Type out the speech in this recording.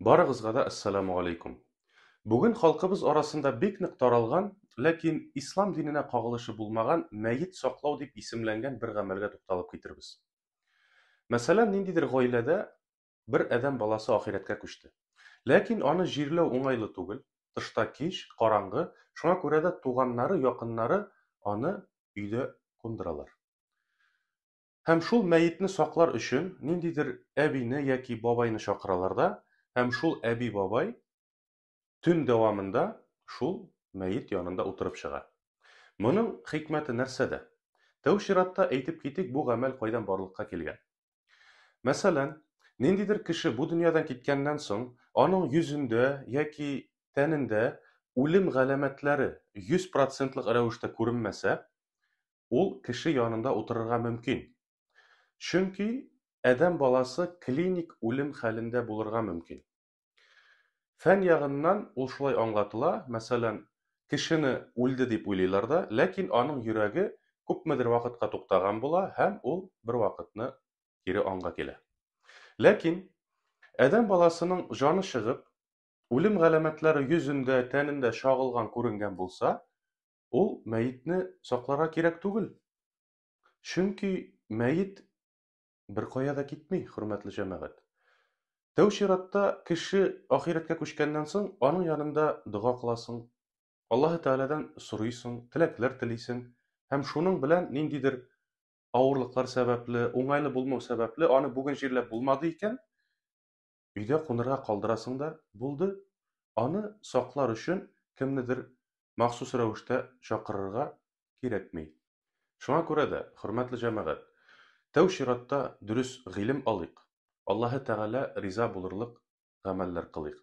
Барыгызга да Әссәламү галәйкүм. Бүген халкыбыз арасында бик нык таралган, ләкин Ислам диненә кагылышы булмаган мәет саклау дип исемләнгән бер гамәлгә тукталып китербез. Мәсәлән, ниндидер гаиләдә бер адәм баласы ахирәткә күчте. Ләкин аны җирләү уңайлы түгел, тышта кич, караңгы, шуңа күрә дә туганнары, якыннары аны өйдә кундыралар. Һәм шул мәетне саклар өчен ниндидер әбине яки бабайны чакыралар да, һәм шул әби-бабай төн дәвамында шул мәет янында утырып чыга. Моның хикмәте нәрсәдә? Тәү чиратта әйтеп китик, бу гамәл кайдан барлыкка килгән. Мәсәлән, ниндидер кеше бу дөньядан киткәннән соң, аның йөзендә яки тәнендә үлем галәмәтләре 100 процентлык рәвештә күренмәсә, ул кеше янында утырырга мөмкин. Чөнки адәм баласы клиник үлем хәлендә булырга мөмкин. Фән ягыннан ул шулай аңлатыла, мәсәлән, кешене үлде дип уйлыйлар да, ләкин аның йөрәге күпмедер вакытка туктаган була һәм ул бервакытны кире аңга килә. Ләкин адәм баласының җаны чыгып, үлем галәмәтләре йөзендә, тәнендә чагылган күренгән булса, ул мәетне сакларга кирәк түгел. Чөнки мәет беркая да китми, хөрмәтле җәмәгать. Тәү чиратта кеше ахирәткә күчкәннән соң, аның янында дога кыласың, Аллаһы Тәгаләдән сорыйсың, теләкләр телисең һәм шуның белән ниндидер авырлыклар сәбәпле, уңайлы булмау сәбәпле, аны бүген җирләп булмады икән, өйдә кунырга калдырасың да, булды. Аны саклар өчен кемнедер махсус рәвештә чакырырга кирәкми. Шуңа күрә дә, хөрмәтле җәмәгать, тәү чиратта дөрес гыйлем алыйк, Аллаһы Тәгалә риза булырлык гамәлләр кылыйк.